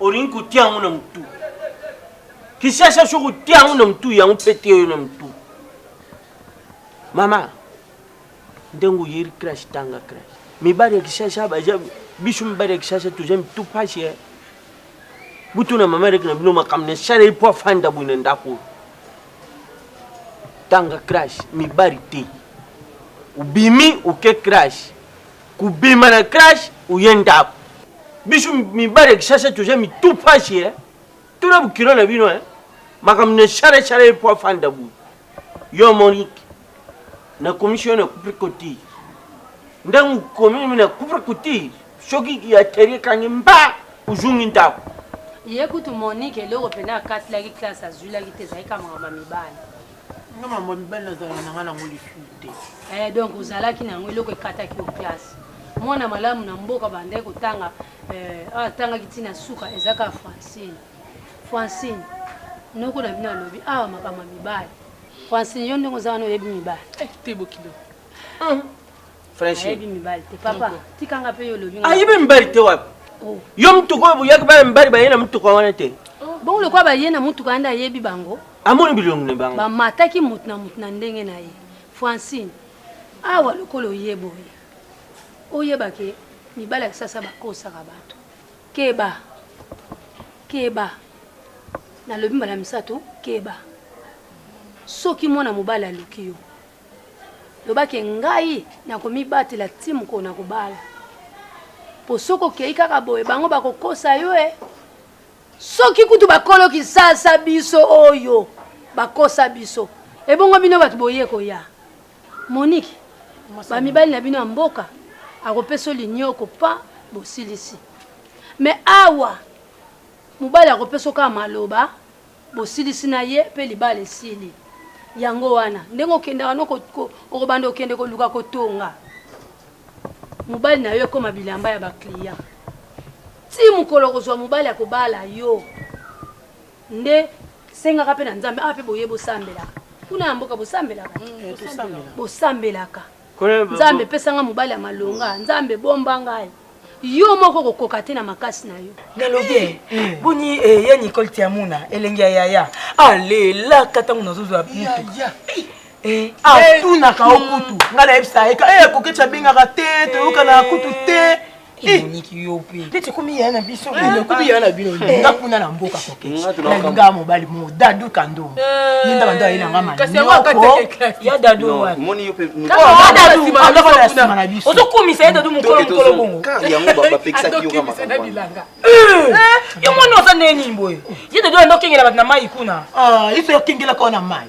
olingi kotia yango na motu kisasa soki otia yango na motu yango mpe tie yo na motu mama ndenge oyeri crash tanga crash mibali ya kisasa baza biso mibali ya kisasa toza mitu mpasi eh. butu na mama eleki na bino makambo nasaleli mpo afanda boye na ndako oyo tanga crash mibali te obimi oke crash Kobima na crash oye ndako. Biso mibale kishasa toza mitu pasi eh. Tuna bukilo na bino eh. Makambo na share share ye po afanda boye. Yo Monique, na commission na couple cotir. Ndango komi na couple cotir, soki ya terie kangi mba ozungi ndako. Ye kutu Monique eloko pena akatilaki classe azwilaki te ezalaki kaka makambo ya mibale. nga mama mibali nazala na nga nango lisusu te eh, donc ozalaki na yango eloko ekataki yo classe mwana malamu na mboka bandaki kotanga eh, ah, atangaki ntina suka ezaka francine francine noko na bino alobi awa ah, makambo ya mibali francine yo ndenge oza wana oyebi mibali eh, te bokilo ayebi mibali te papa tikanga mpe yo olobi ayebi mibali te wapi oh. yo motuka oyo boyaki bana mibali baye na motuka wana te oh. bongo lokola baye na motuka wana nde ayebi bango amoni bilongi na bango bamataki motu na motu na ndenge na ye francine awa lokola oye boye oyeba ke mibali ya kisasa bakosaka bato keba keba nalobi mbala misato keba soki mwana mobali aluki yo Loba ke ngai nakomibatela ti mokolo nakobala. Po soki okei kaka boye bango bakokosa yo e. Soki kutu bakolo kisasa biso oyo bakosa biso. Ebongo bino bato boye koya. Monique, ba mibali na bino ya mboka akopesa linioko pa bosilisi. Mais awa mobali akopesa kaka maloba. Bosilisi na ye pe libala esili. Yango wana ndenge okendaka no ko ko okobanda kokende koluka kotonga mobali na yo ekoma bilamba ya ba client ti mokolo okozwa mobali akobala yo nde sengaka pe na nzambe awa pe boye bosambelaka kuna ya mboka bosambelaka bosambelaka Nzambe pesa nga mobali ya malonga, Nzambe bomba ngai. Yo moko kokoka te na makasi na yo. Nalobi eh, eh. boni eh, ya Nicole Tiamuna elengi ya yaya alelaka ntango nazozwa mutu eh, atunaka o kutu ngai nayebisa ye akoki ti abengaka te toyokana kutu te Eh. emoniki yo mpe mpe tokomi yaya na biso eh, okomi yaya na bino eh. nga kuna na mboka kokenalingaa mobali mo dadu kando ye nda bando ayela nga maniokoya dadu nsima na biso ozokumisa ye dadu mokolo mokolo bongo yo mwana oza ndenge nini boye ye dadu anda okengela bato na mai kuna ah, iso yokengelaka yo na mai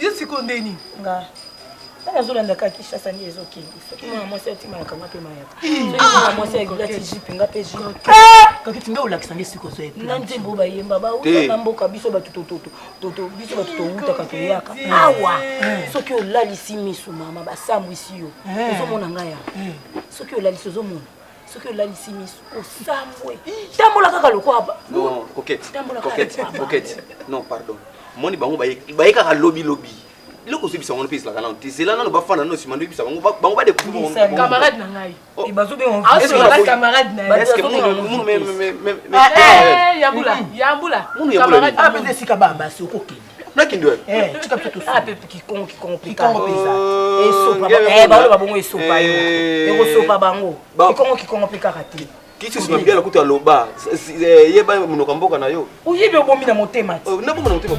Yo siko nde nini? Nga. Nga nazolanda kaka Kinshasa nde ezokende. Soki mwana mwasi atimalaka nga mpe mayaka. Soki mwana mwasi alati jipe nga mpe jipe. Kakiti nga olakisa nde siko ozo epe. Na nzembo bayemba bauta na mboka biso bato tototo. Toto biso bato towutaka toyaka. Awa soki olalisi miso mama basambwisi yo. Ozomona nga ya. Soki olalisi ozomona. soki olalisi miso osambwe tambola kaka lokola non pardon moni bango baye kaka lobilobi eloko ozobisa bango mpe ezalaka nano te zela nano bafanda nano nsima ndoyebisa bango bango badekamarade na ngai munu yambula yambula esika babasi okokende nakindoe eh, tika mpe tosupe ah, kikongo kikongo kikongo mpenza oh, esopa eh, baoloba bongo esopa yo eh. ekosopa bango kikongo kikongo mpe kaka te kisisi mabe na kutu aloba yeba monoko ya mboka na yo oyebi obomi na motema te oh, naboma na motema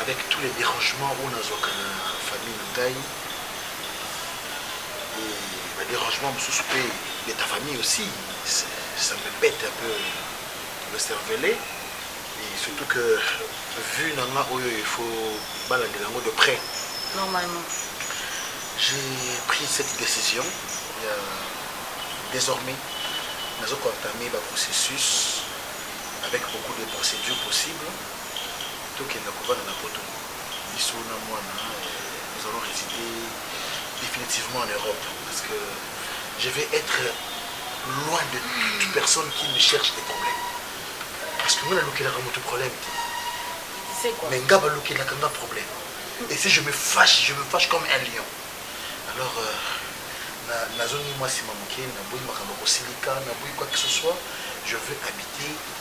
Avec tous les derangements oyo nazwaka na famille na ngai et ba derangements mosusu mpe de ta famille aussi ça me pète un peu le cervelet et surtout que vue na nga oyo il faut balandela yango de près normalement j'ai pris cette décision euh, désormais nazo koentame ba processus avec beaucoup de procédures possibles tokenda kovanda na poto biso na mwana nous allons resider definitivement en Europe parce que je vais être loin de toute personne qui me cherche des problèmes parce que mwana alukelaka moto problème te mais nga balukelaka nga problème et si je me fâche je me fâche comme un lion alors euh, nazongi mwasi ma moke naboyi makambo kosilika naboyi quoi que ce soit je veux habiter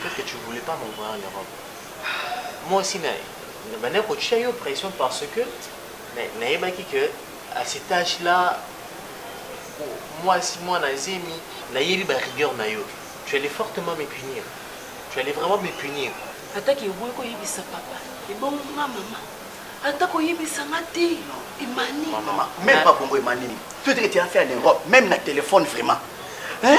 Peut-être que tu voulais pas m'envoyer en Europe. Moi aussi, na, na banda kotia yo pression parce que nayebaki que à cet âge là mwasi mwana zemi nayebi ba rigueur na yo tu allais fortement me punir tu allais vraiment me punir ataki eboyi koyebisa papa ebongo nga mama ata koyebisa nga te emani même pas bongo emani nini tout que tu as fait en europe même na téléphone vraiment hein?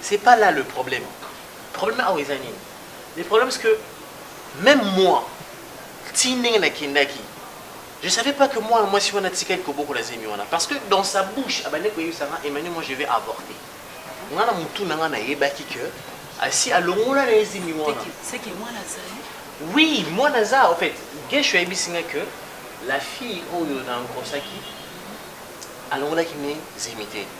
C'est pas là le problème. Problème awa eza nini? Le problème c'est que même moi ti ndenge nakendaki je savais pas que mwana mwasi wana atikaki kobokola zemi wana parce que dans sa bouche abandaki koyebisa nga Emmanuel moi je vais avorter. Nga na mutu na nga nayebaki que asi alongola na ye zemi wana. C'est que mwana azali Oui, moi naza, en fait, Gesho a singa que la fille oyo na engrossaki alongolaki ne zemite.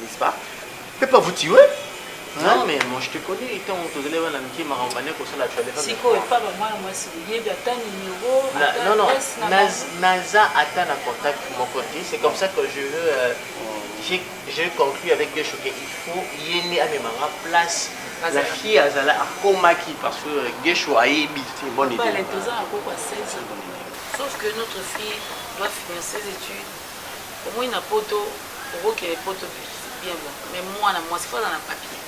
N'est-ce pas? Pepe avutiwe. Non mais moi je te connais étant tozali bana mike makambo bande kosala tu avais pas sikoyo epa bamwana mwasi oyebi ata numero non non naza ata na contact moko te c'est comme ça que je veux euh, je conclue avec gesho ke il faut ye nde amemanga place la fille azala akomaki parce que euh, gesho ayebi te bonne idée sauf que notre fille doit finir ses études Omoni na poto okokende poto bien bon mais muana muasi faut aza na papier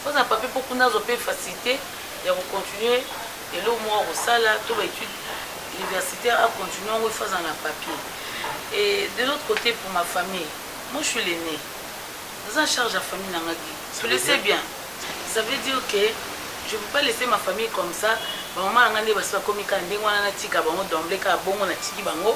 faut aza na papier po kuna azwa pe facilite ya ko continuer eloko moko ya kosala to ba etude universitaire a continuer yango il faut aza na papier et de l'autre cote pour ma famille moi je suis l'aine naza na charge ya famille na nga ki tu le sais bien ça veut dire que je peux pas laisser ma famille comme ça ba maman na nga nde basi bakomi kaka ndenge wana natika bango d'emblée kaka bongo natiki bango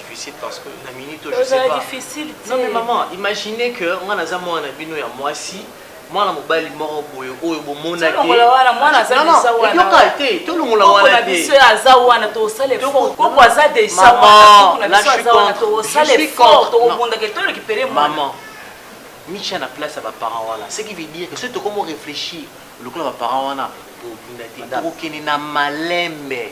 difficile parce que na minute oyo je sais pas difficile non mais maman imaginez que nga naza mwana na bino ya mwasi mwana mobali moko boye oyo bomonate te tolongola wana biso aza wana tosala koko aza deja tokobundaka to récupere mama micha na place ya baparent wana ce qui veut dire que soki tokomo réfléchir lokola baparent wana bobunda te tokokende na malembe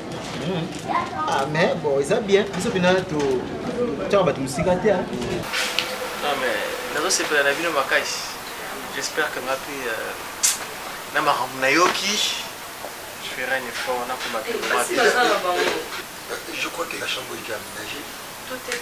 Hmm. Ah, mais bon, eza bien. Biso pina to tchaka bato mosika te. Hein. Non mais nazo sepela na bino makasi. J'espère que nga pe euh, na makambo nayoki je ferai un effort na komata. Eh, je crois que la chambre est aménagée. Tout est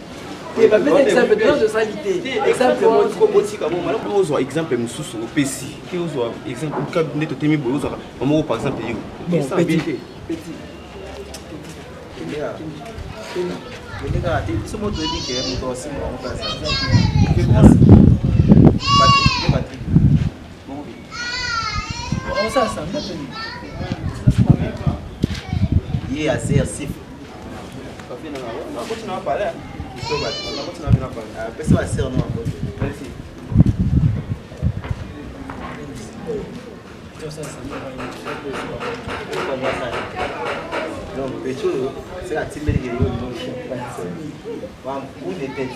ozwa exemple mosusu opesi te ozwa exemple nde totemi boye ozwaka mamoko par exemple yo ye azer sifa pesa baser no donc petolo seka atimbelike yo bampunde tete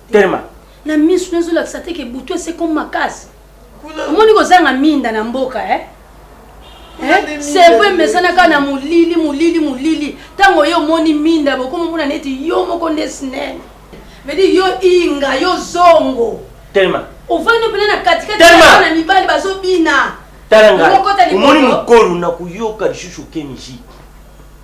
telema na misu nazo lakisa te ke butu ese comme makasi omoni kozanga minda na mboka eh sevo emesanaka na molili molili molili ntango yo omoni minda bokomi omona neti yo moko nde snene vedi yo inga yo zongo telema ovandi mpena na katikati na mibali bazobina tala ngai omoni mokolo na koyoka lisusu keniji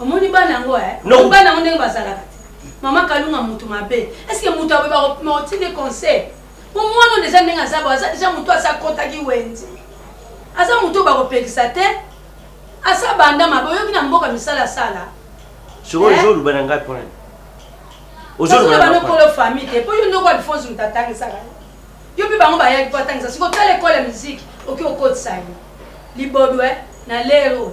Omoni bana yango eh? Non. Bana yango ndenge bazalaka. Mama Kalunga mutu mabe. Est-ce que mutu aboyeba kopima otinde conseil? Po mwana oyo deja ndenge aza bo aza deja mutu asa kotaki wenze. Aza mutu bakopekisa te. Asa banda mabe oyoki na mboka misala sala. Sikoyo Eh? ozoluba na ngai pona nini? Ozoluba na ngai pona banokolo famille te po yo ndoko alphonse moto atangisaka yo yo mpe bango bayaki mpo atangisa siko tala ekole ya miziki oki okotisa ye libodwe na lero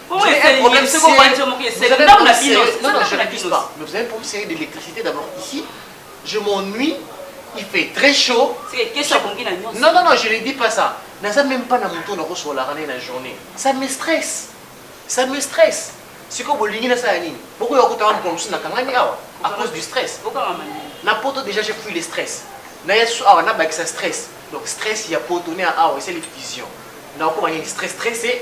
Comment est-ce que problème c'est qu'on va dire mon c'est là où la bino non non je n'abuse pas mais vous avez un problème sérieux d'électricité d'abord ici je m'ennuie il fait très chaud c'est question qu'on dit non non non je ne dis pas ça naza même pas na moto na kosola rane na journée ça me stresse ça me stresse sikoyo bolingi nasala nini bokoya kotanga mokolo mosusu nakangani awa à cause du stress na poto déjà j'ai pris le stress naye susu awa nabakisa stress donc stress ya poto ne ya awa esali vision nakokoma nini stress stresse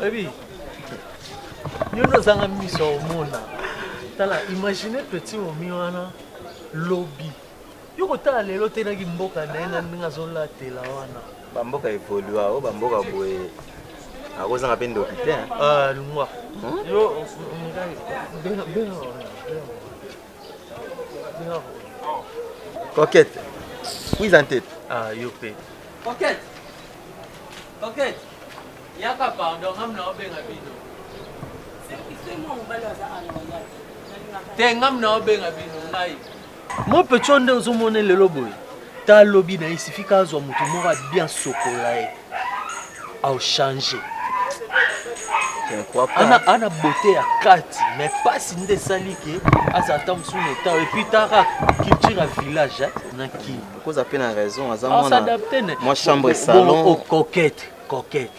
Baby, yo nde ozanga miso ya omona tala imagine petit momi wana lobi yo kotala lelo te naki mboka na ye na ndenge azolatela wana bamboka evolua o bamboka boye akozanga mpe ndoki te ah, lungwa hmm? yo coquette wiza ntete ah, yo mpe coquette Coquette, yaka pardon, ngam na obenga bino. Te ngam na obenga bino ngai. Mo pecho nde ozomone lelo boye. Ta lobi na isifika azwa moto moko bien sokola ye. Au changer. Ana ana beauté ya kati mais pasi nde esali ke azala ta mosusu na etat et puis taka culture ya village na kin. Okoza pe na raison aza mwana. S'adapter ne. Moi chambre salon. Bon, coquette, coquette.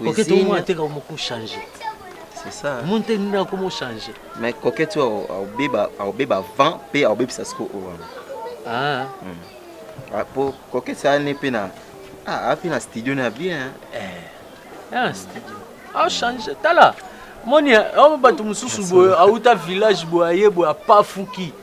Coquette au moins ateka moko changer. C'est ça. Mon te nda comment changer. Mais coquette tu au beba au beba vent pe au beba sasko au vent. Ah. Hmm. Ah pour coquette ça n'est pe na. Ah, api na studio na bien. Eh. Ah, studio. Ah changer tala. Moni, oh bato mosusu boye auta village boye aye boye apafuki.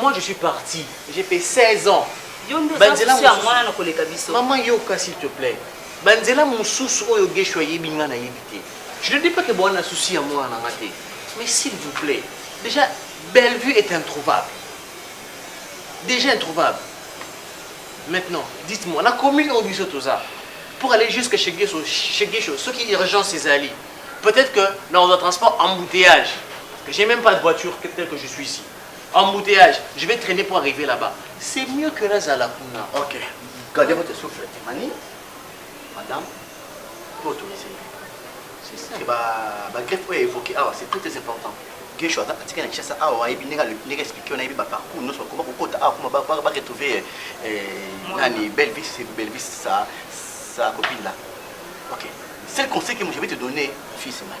Moi je suis parti, j'ai fait 16 ans. Yo nde oza Banzela susu ya mosusu. mwana na koleka biso. Maman yoka s'il te plaît. Banzela mosusu oyo Guesho ayebi nga nayebi te. Je ne dis pas que boa na souci ya mwana na nga te. Mais s'il vous plaît, déjà Bellevue est introuvable. Déjà introuvable. Maintenant, dites-moi, na commune oyo biso toza, pour aller jusque chez Guesho, chez Guesho, ce qui urgence ezali, peut-être que dans le transport embouteillage, que j'ai même pas de voiture que- telle que je suis ici. Embouteillage, je vais trainer pour arriver là-bas. C'est mieux que nazala kuna. Ok. Gardez votre souffle, Timani. Madame, vous autorisez. C'est ça. C'est ba, ba greffe oyo évoqué awa, c'est très important. Guesho aza atika na Kinshasa awa ayebi ndenge ndenge expliquer na yebi ba parcours nyonso bakoma kokota awa kuma ba ba retrouver nani Belvis, c'est Belvis sa sa copine là. Ok. C'est le conseil que je vais te donner, fils Mani.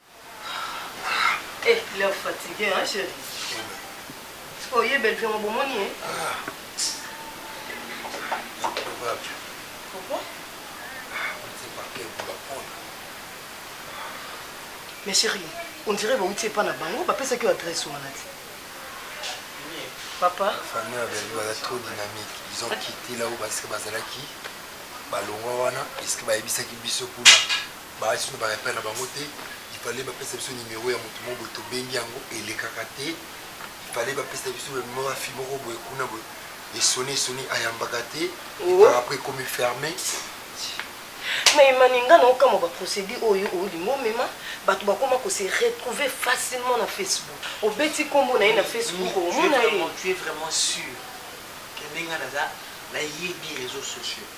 Eh leur fatigue hein chérie. Sikoyo ye bellevue yango bomoni ye? Pourquoi? Mais chérie, on dirait bawuti epa na bango bapesaki yo adresse wana te. Papa. Famille ya bellevue baza trop dynamique. Ils ont quitté là où basi bazalaki balongwa wana puisque bayebisaki biso kuna. Ba esi tuna baka epai na bango te il fallait ba pesa biso numero ya mutu moko boye to bengi yango elekaka te il fallait ba pesa biso ba numero ya fille moko boye kuna boye e sonne e sonne ayambaka te oh. par après ekomi ferme mais emani nga na okamwa ba procédure oyo olingi omema bato bakoma ko se retrouver facilement na facebook obeti nkombo na ye na facebook omona ye tu es vraiment sûr que ndenge naza nayebi réseaux sociaux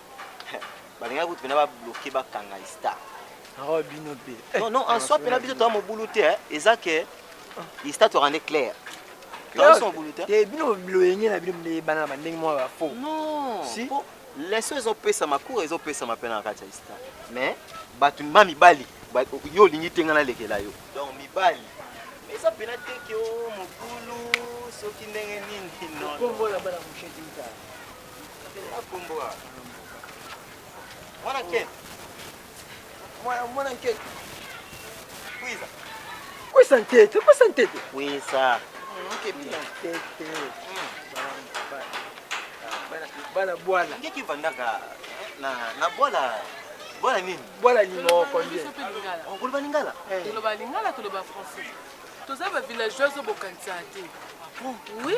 balingaki kutu pena babloke bakanga ista awa bino mpe non non en soi pena biso toa mobulu te eh. eza ke ista toaka nde claire te bino biloyenge na bino biyebana na bandenge mwa bafo si leso ezopesama cour ezopesama mpe na kati ya ista mais bato ma mibali yo olingi te ngai nalekela yo donc mibali eza mpena te ke o oh, mobulu soki ndenge nini non Kwisa ntete, kwisa ntete. Kwisa. Bana bwana. Ngeki vandaka na na bwana bwana nini? Bwana nini moko nje. Okoloba lingala? Toloba lingala, toloba français. Toza ba villageois obokanisa te. Oui.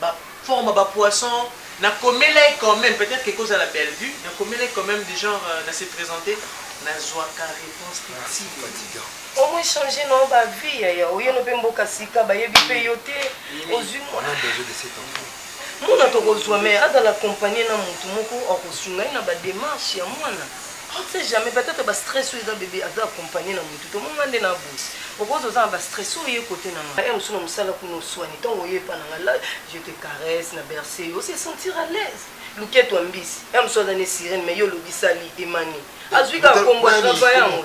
Ba forme ba poisson na komela ye quand meme peut-etre que eko zala Bellevue na komela ye quand meme de genre na se presenter na zuaka reponse te tii lelo. Omo echanger na yo ba vie yaya oye no pe mboka sika ba yebi pe yo te ozui muana muana toko zua mais azala accompagne na mutu moko ako sunga ye na ba demarche ya muana. On ne sait jamais peut etre ba stress oyo eza bebe aza accompagne na mutu tomoni nga nde na boyi okoki oza na ba stress oyo oye cote na nga heure mosusu na musala kuna oswani tango oye epa na nga la je te caresse na berce yo o se sentir à l'aise luketu ya mbisi heure mosusu aza ne sirene mais yo olobisali emani azui kaka kombo a travailler yango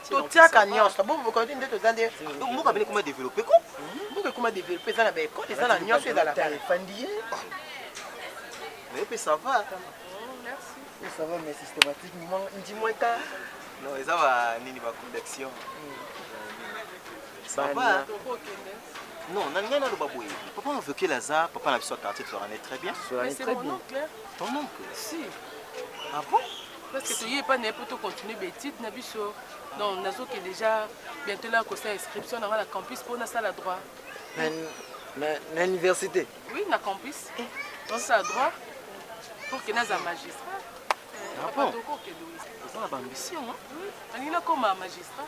totiaka nyonso bomokonzi nde toza nde mboka bino ekoma developpe ko mboka ekoma developpe eza na baekole eza na nyonso ezalaka efandi ye naye mpe ça va ça va mais systématique ndimwa ta non eza ba nini ba convection ça va non na ngai naloba boye papa aveukel aza papa na biso ya quartier tolanai très bien ton oncle si ah bon parce que toye epai na ye mpo tocontinue baétude na biso donc nazoke déjà bientôt la kosa inscription na ngai na campus mpo nasala droit na université oui na campus eh. nasala droit pour que naza magistrat ah bon oza na baambition alingi nakoma magistrat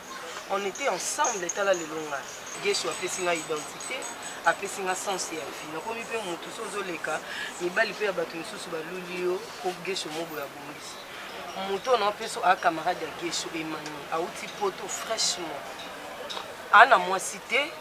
On etait ensemble tala lelo nga Guesho apesi nga identite apesi nga sens ya vie nakomi pe mutu so ozoleka mibali pe ya batu misusu baluli yo po Guesho moboye abongisi moto na opeso a camarade ya Guesho Emmanuel auti poto fraîchement ana mwasi te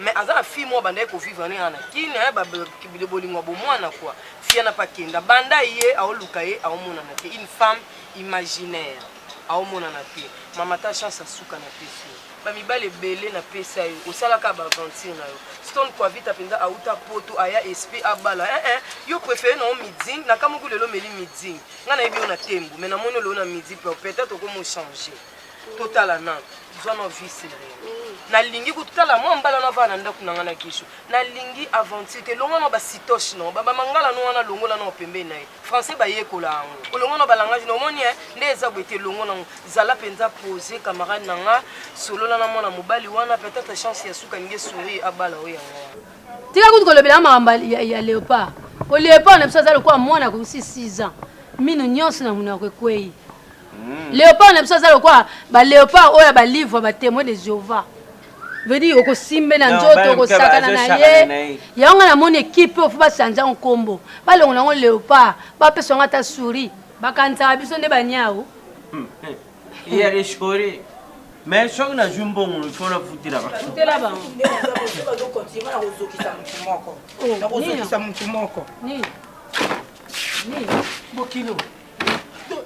mais aza na fille moko abandaki kovivre ne ana kini aye eh, bolingo ya bomwana kua fiana mpe akenda banda ye aoluka ye aomonana te une femme imaginaire Aomonana te mama ta chance ya suka na pesi yo ba mibali ebele na pesa yo osala ka ba aventure na yo stone quavita penza auta poto aya espe abala eh eh yo prefere na yo midzing na kamuku lelo meli midzing nga na yebi yo na tembo mais na moni yo lelo na midi pe peut-être okomo changer totala na zwa na vie seree nalingi kotala mwa mbala na vaa na ndako na nga na gisho nalingi aventure te longa na basitoche na ba bamangala no wana longola na pembeni na ye français bayekola yango olongo na balangage na omoni eh, nde eza boye te longo nango zala mpenza pose camarade na nga solola na mwana mobali wana peut-être chance ya suka ninge souri abala oyo yango tika kutu kolobela makambo ya leopard po leopard na biso aza lokola mwana akokusi 6 ans mino nyonso na monoko ekwei hmm. leopard na biso aza lokola baleopard oyo ya balivre batemoin de jehovah vedi okosimbe na nzoto okosakana na ye yango nga namoni ekipe oyo fo basanza yango nkombo balongola yango leopard bapesa yango ata souri bakanisaka biso nde baniau hmm, eh, ya reshore mais soki nazwi mbongo lifo nafutela bafutela bangokozokisa motu moko bokilo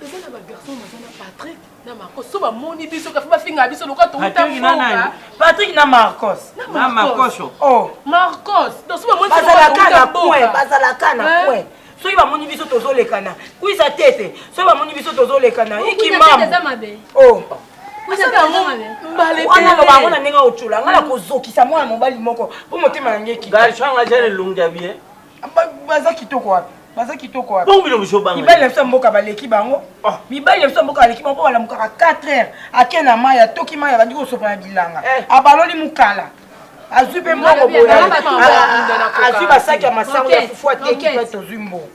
eza na bagarçon baza na patrick na Marcos so bamoni biso kafi bafingaka biso lokola touta mboka Patrick na Marcos na Marcos oh Marcos donc so bamoni bazalaka na point bazalaka na point soki bamoni biso tozolekana kwisa tete soki bamoni biso tozolekana ikimamu oh wana loba yango na ndenge ocola ngai nakozokisa mwana mobali moko mpo motema na ngai ekitanga jane elongi ya bien baza kitoko wapi baza kitoko wapi bongo biloko zobanga mibali na biso ya mboka baleki bango ah. mibali na biso ya mboka baleki bango mpo balamukaka 4 heures ake na mai atoki mai abandi kosopa na bilanga eh. abaloli mokala azwi mpe mbongo boyeazwi basaki ya masango ya fufu ateki mpe tozwi mbongo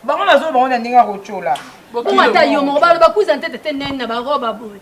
bango nazolo bango na ndenge ya kotyola ata yo moko baloba kuiza ntete te nene na baroba boye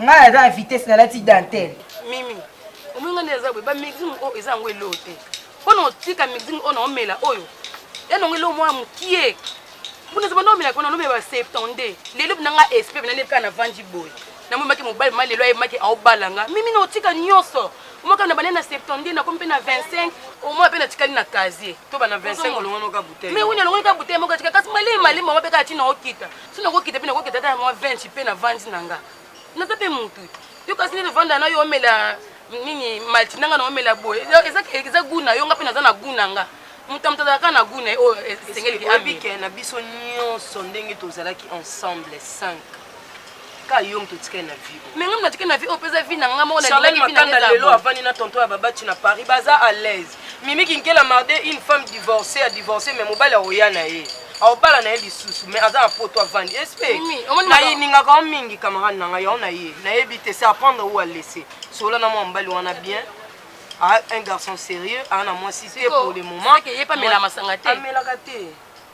Nga na za vitesse na lati dentelle. Mimi, omoni nga nde eza boye ba mixing oyo eza yango eloo te. Mpo na otika mixing oyo na omela oyo ya nango eloo mwa mokie. Mpo na zaba na omela kuna na omela ba 72. Lelo bina nga esprit bina nepe na vandi boye. Na mwe maki mobali ma lelo aye maki aobala nga. Mimi na otika nyoso. Mwa kaka na bane na 72 na komi pe na 25. Omwa pe na tikali na casier. To bana 25 olongono ka bouteille. Mais oui na longono ka bouteille moko tika kasi malema malema mwa pe ka tina okita. soki nakokita mpe nakokita ata na mwa 20 mpe navandi na nga naza mpe motu yo kasi nde navanda na yo omela nini malti nanga na omela boye eza gu na yo nga mpe naza na gu na nga moto ya moto azalaka na gu na ye oyo esengeliki abike na biso nyonso ndenge tozalaki ensemble 5 ka yo moto otikali na vie mais ngai natikali na vie oyo mpeza vie na ngai moko charlene makanda lelo avandi na tonto ya babati na paris baza à l'aise mimi kinkela marde une femme divorcée a divorcé mais mobali akoya na ye aobala na ye lisusu mais aza na poto avandi espnalingaka o mingi camarade na ngai yango na ye nayebi te se apprendre ou alaisse solola na mwa mobali wana bien un garçon sérieux aa na mwasi te pour le moment amelaka te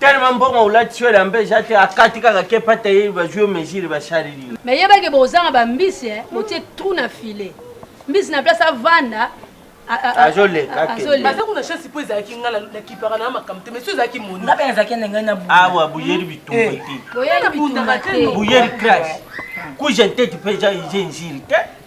tellement mbongo olati soele ambe eza te akati kaka ke pata ye bazwi yo mesure basaleli me yebaki bozanga bambisi eh, botie trou na filet mbisi na place avanda azolekabaza kuna chance mpo ezalaki nga nakipaka na makambo te mais so ezalaki moninga mpe azalaki na ngai naawa boyeli bitumba te boyeli crash kuja nteti mpe eza eza nziri te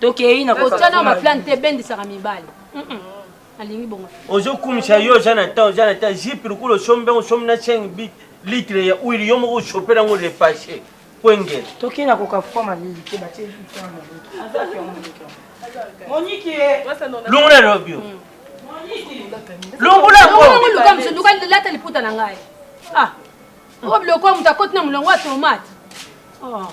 tokei na kotya na maplane te ebendisaka mibali alingi bongo ozokumisa yo oza na temps oza na temps jipe lokola osombi yango osombi na 5 bit litre ya uili yo moko osopela yango repasse mpo engele tokei na kokafuka malili te batie moniki longo na lobi yo longola yango luka mosu luka lata liputa na ngai ah oyo biloko moto akoti na molongo ya tomate oh.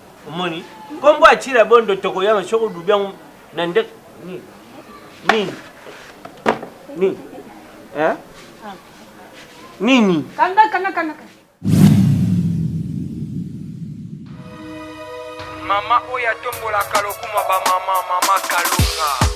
Omoni? Kombo ya Chira Bondo tokoyanga soko dubi yango na nde nini? Nini? Nini? Eh? Nini? Kanga kanga kanga. Mama oyo atombolaka lokuma ba mama mama Kalunga.